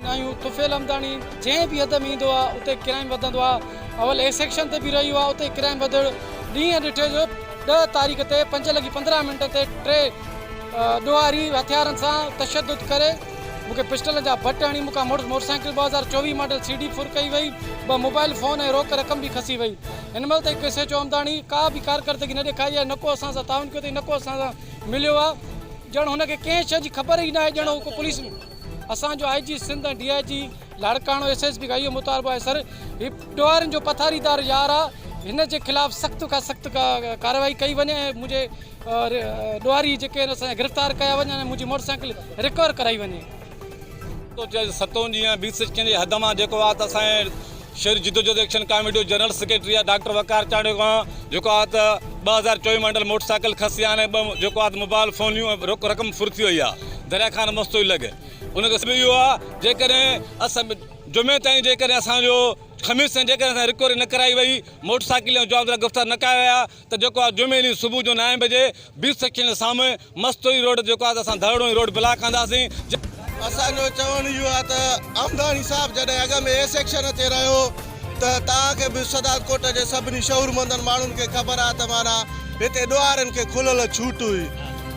ناهيون طفيل همداڻي جنهن به حد ۾ ايندو آ اتي ڪرائيم وڌندو آ اول اي سيڪشن تي به رهيو آ اتي ڪرائيم وڌڻ ڏينهن ڏٺي جو ڏهه تاريخ تي پنج لڳي پندرهن منٽن تي ٽي ڏوهاري هٿيارن سان تشدد ڪري مون کي پسٽلن جا بٽ هڻي مون کان مڙس موٽر سائيڪل ٻه هزار چوويهه ماڊل سي ڊي ڦر ڪئي وئي ٻه موبائل فون ۽ روڪ رقم به کسي وئي هن مهل تائين ايس ايڇ او همداڻي ڪا به ڪارڪردگي نه ڏيکاري آهي نه ڪو اسان سان تعاون ڪيو اٿئي نه ڪو اسان سان مليو آ ڄڻ هن کي ڪنهن شئي جي خبر ئي ناهي ڄڻ هو ڪو پوليس اسان جو I G Sindh ۽ D I G Larkana S S P کان اهو مطالبو آهي سر هي ٽوئرن جو پٿاريدار يار آ هن جي خلاف سخت کان سخت ڪارروائي ڪئي وڃي ۽ منهنجي ڏوهاري جيڪي آهن اسان گرفتار ڪيا وڃن ۽ منهنجي موٽر سائيڪل رڪور ڪرائي وڃي. ستون جيئن بي سچ ڪنهن جي حد مان جيڪو آ ته اسان شھري جدوجھد ايڪشن ڪاميٽي جو جنرل سيڪريٽري آھي ڊاڪٽر وقار چانڊيو کان جيڪو آھي ته ٻه هزار چوويھ ۾ اڏل موٽر سائيڪل کسيان ۽ ٻه جيڪو آھي ته موبائل فونيون ۽ رق رقم ڦر ٿي وئي آھي دريا خان مستوئي لڳ ان جو سبب اھو آھي جيڪڏھن اسان جمعي تائين جيڪڏھن اسان جو خميس تائين جيڪڏھن اسان جي رڪوري نه ڪرائي وئي موٽر سائيڪل جا جوابدار گرفتار نه ڪيا ويا ته جيڪو آھي جمعي ڏينھن صبح جو نائين بجي بيس سيڪشن جي سامھون مستوئي روڊ جيڪو آهي ته اسان ڌرڙون هي روڊ بلاڪ ڪنداسين. اسان جو چوڻ اهو آهي ته امداڻي صاحب جڏهن اڳ ۾ اي سيڪشن تي رهيو ته توهان کي به صدارت ڪوٽ جي سڀني شعورمندن ماڻهن کي خبر آهي ته معنيٰ هتي ڏوهارين کي کلل ڇوٽ هئي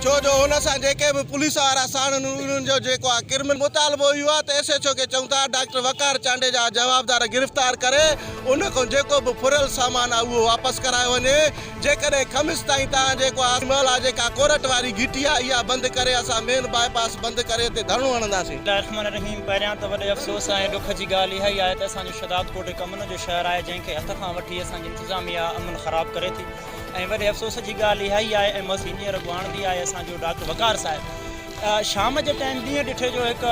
ڇو جو هن سان جيڪي به پوليس وارا ساڻن هئي انهن جو جيڪو آهي ڪرمنل مطالبو اهو آهي ته ايس ايڇ او کي چئون ٿا ڊاڪٽر وقار چانڊي جا جوابدار گرفتار ڪري ان کان جيڪو به ڦريل سامان آهي اهو واپس ڪرايو وڃي. جيڪڏهن خمس تائين توهان جي ڪو آس محل آهي جيڪا ڪورٽ واري گهٽي آهي اها بند ڪري اسان مين باء پاس بند ڪري تي ڌرڻو هڻنداسين. بسم الله الرحمن الرحيم پهريان ته وڏي افسوس ۽ ڏک جي ڳالهه اها ئي آهي ته اسان جو شهداد ڪوٽ هڪ امن جو شهر آهي جنهن کي هٿ کان وٺي اسان جي انتظاميه امن خراب ڪري ٿي ۽ وڏي افسوس جي ڳالهه اها ئي آهي ۽ مس هينئر اڳواڻ به آهي اسان جو ڊاڪٽر وقار صاحب شام جي ٽائيم ڏينهن ڊٺي جو هڪ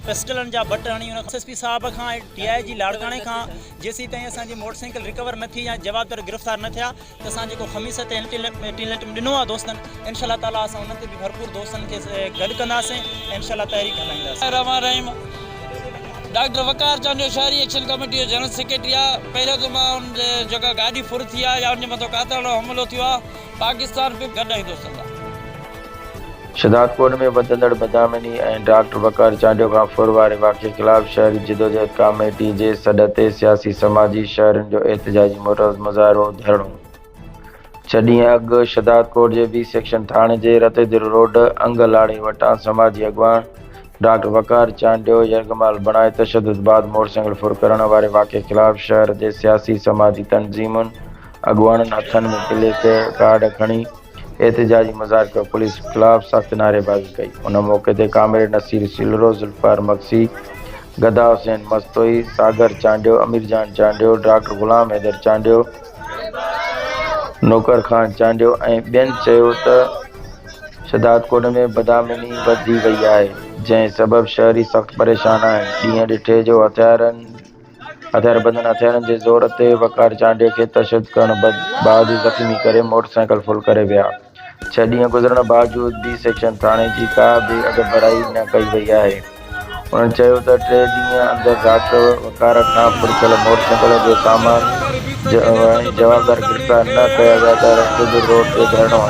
پسٽلن جا بٽ هڻي ان کان ايس ايس پي صاحب کان ۽ ڊي آء جي لاڙڪاڻي کان جيسيتائين اسان جي موٽر سائيڪل رڪور نه ٿي يا جوابدار گرفتار نه ٿيا ته اسان جيڪو خميس تي الٽيميٽم ڏنو آهي دوستن انشاء الله تعالي اسان انهن تي به ڀرپور دوستن کي گڏ ڪنداسين ۽ انشاء الله تحريڪ هلائينداسين. بسم الله الرحمن الرحيم ڊاڪٽر وقار چانڊيو شهري ايڪشن ڪميٽي جو جنرل سيڪريٽري آهي پهريون ته مان ان جي جيڪا گاڏي ڦر ٿي آهي يا ان جي مٿو قاتلاڻو حملو ٿيو آهي پاڪستان پي گڏ آهيون دوستن سان. شھدادڪوٽ ۾ وڌندڙ بدامني ۽ ڊاڪٽر وقار چانڊيو کان ڦر واري واقعي خلاف شھري جدوجهد ڪاميٽي جي سڏ تي سياسي سماجي شھرين جو احتجاجي مظاھرو ڌرڻو ڇهه ڏينهن اڳ شھدادڪوٽ جي بي سيڪشن ٿاڻي جي رتيدر روڊ انگ لاڙي وٽان سماجي اڳواڻ ڊاڪٽر وقار چانڊيو يرغمال بڻائي تشدد بعد موٽرسائيڪل ڦر ڪرڻ واري واقعي خلاف شھر جي سياسي سماجي تنظيمن اڳواڻن ھٿن ۾ پليڪ ڪارڊ کڻي احتجاجي مظاهر ڪيو پوليس خلاف سخت نعريبازي ڪئي ان موقعي تي ڪامريڊ نصير سيلرو، ذوالفقار مگسي، گدا حسين مستوئي، ساگر چانڊيو، امير جان چانڊيو، ڊاڪٽر غلام حيدر چانڊيو، نوڪر خان چانڊيو ۽ ٻين چيو ته شھدادڪوٽ ۾ بدامني وڌي وئي آھي جنھن سبب شھري سخت پريشان آھن ڏينھن ڏٺي جو ھٿيارن اڌر بدن هٿيارن جي زور تي وقار چانڊيو کي تشدد ڪرڻ بعد زخمي ڪري موٽر سائيڪل ڦل ڪري ويا. ڇهه ڏينهن گذرڻ باوجود بي سيڪشن ٿاڻي جي ڪا به اڳڀرائي نه ڪئي وئي آهي. انهن چيو ته ٽي ڏينهن اندر رات وقار کان ڦل ٿيل موٽر سائيڪل جو سامان ۽ جوابدار گرفتار نه ڪيا ويا ته رستو به روڪي ڌرڻو هنيو.